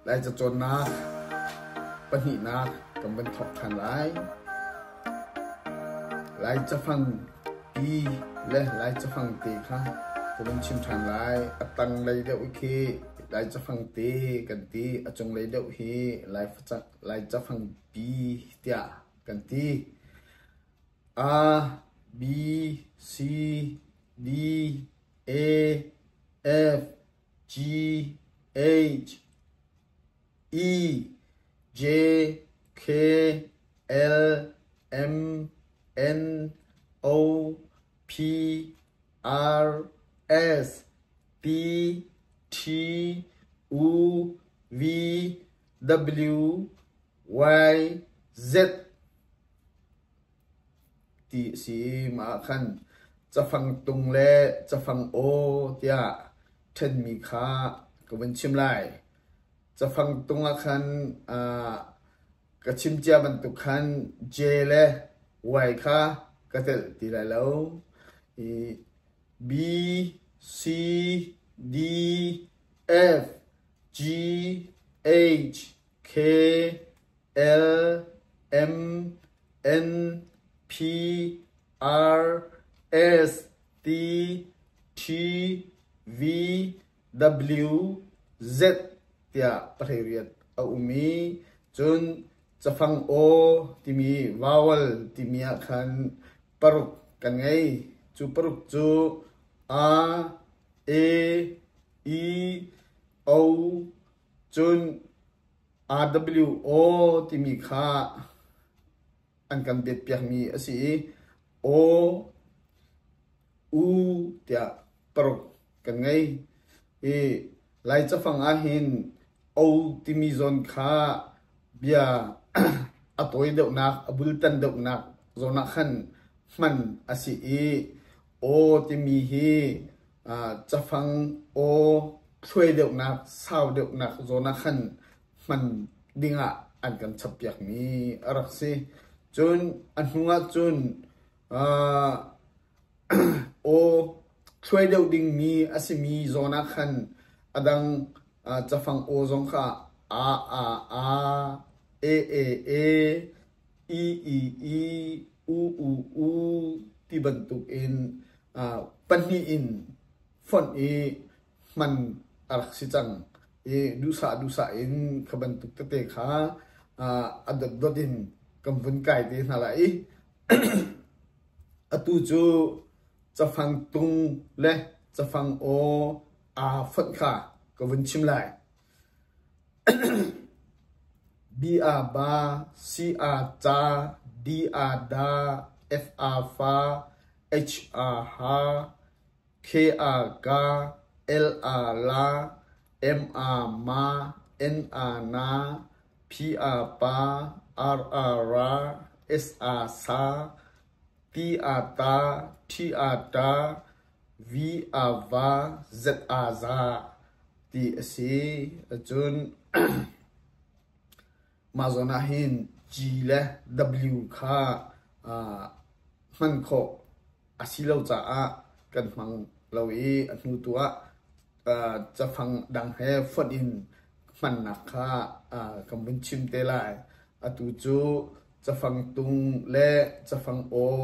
Lai cacawnnak pahnihnak kan van thawk ṭhan lai. Lai cafang pi le Lai cafang te kha kan van chim ṭhan lai. A tanglei deuh khi Lai cafang te kan ti. A cunglei deuh hi Lai facak, Lai cafang pi tiah kan ti. A, B, C, D, E, F, G H I J K L M N O P R S P T U V W Y Z ti a si ah khan cafang tung le cafang aw tiah ṭhenmi kha ka vun chim lai. Cafang tung ah khan aa ka chim cia bantuk khan J le Y kha ka telh ti lai lo. I B, C, D, F, G, H, K, L, M, N P R S T T V W Z tiah pahrei riat a um i cun cafang aw timi vowel timi ah khan paruk kan ngei. Cu paruk cu a, e, i, o, Cun RWO timi kha an kan betpiakmi a si i aw, u tiah paruk kan ngei. I Lai cafang ahhin o timi zawn kha bia a tawi deuhnak, a bultan deuhnak zawn ah khan hman a si i Aw timi hi cafang aw thluai deuhnak, sau deuhnak zawn ah khan hman ding ah an kan chappiakmi a rak si. Cun a hnu ah cun aw thluai deuh dingmi a simi zawn ah khan a dang cafang aw zong kha a, a, a, e, e, e, i, i, i, u u u ti bantuk in pahnih in fonh i hman a rak si cang i duhsah duhsah in kha bantuk tete kha a dotdot in kan vun kai te hna la i atu cu cafang tung le cafang aw aa fonh kha ka vun chim lai Bi-a-ba, si-a-ca, di-a-da, f-a-fa, h-a-ha, k-a-ka, l-a-la, m-a-ma, n-a-na, phi-a-pa, r-a-ra, s-a-sa, ti-a-ta, thi-a-ta, Vi aa va zet aa zah ti a si ahcun mah zawn ahhin G le W kha hman khawh a si lo caah kan hmang lo i a hnu tu ah cafang dang he fonh in hmannak kha kan vun chim te lai. Atu cu cafang tung le cafang aw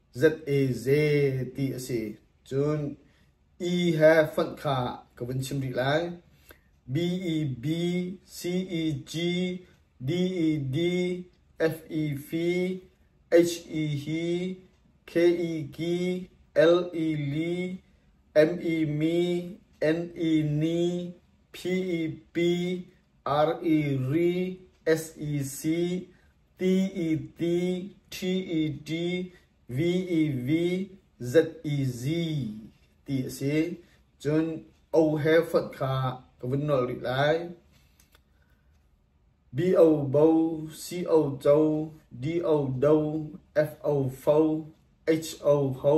Za ti a si. Cun "E" he fonh kha ka vun chim rih lai. B E B C E G D E D F E F H E H K E K L E L M E M N E N P E P R E R S E C T-E-T, T-E-T, V-E-V, Z-E-Z ti a si. Cun O he fonh kha ka vun nolh rih lai. B-O bo, C-O co, D-O do, F-O fo, H-O ho,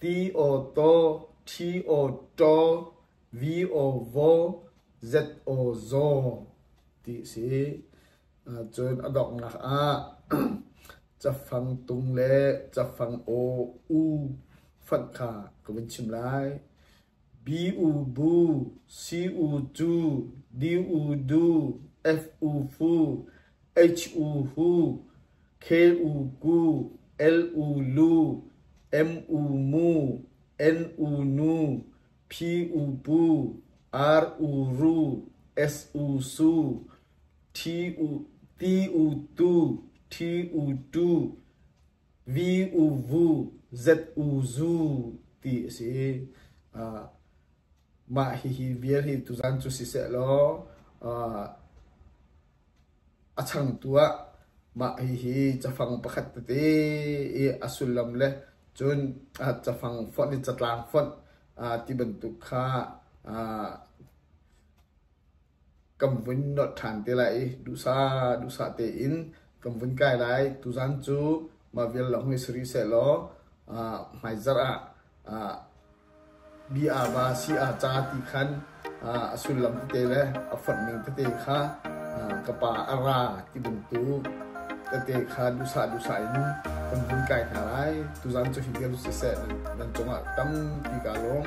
Ti aw taw, ṭhi aw ṭaw, vi aw vaw, zet aw zaw ti a si. Cun a donghnak ah cafang tung le cafang aw u fanh kha ka vun chim lai. Bi u bu, si u cu, di u du, f u fu, h u hu, Khel u ku, el u lu, em u mu, en u nu, phi u pu, ar u ru, es u su, thi u ti u tu, thi u tu, vi u vu, zet u zu ti a si. Uh, mah hihi vial hi tuzan cu siseh law uh, A changtu ah mah hihi cafang pakhat tete i a sullam le cun cafang fonh in catlang fonh ti bantuk kha kan vun nolh ṭhan te lai i duhsah duhsah tein kan vun kai lai. Tuzan cu mah vial lawng hi si rih sehlaw hmaizarh ah Bi-ava si aa ca ti khan a sullam tete le a fonhning tete kha ka pa a ra ti bantuk tete kha duhsah duhsah in kan hun kai hna lai. Tuzan cu hi vel siseh nan cungah tam ti kaa lawm.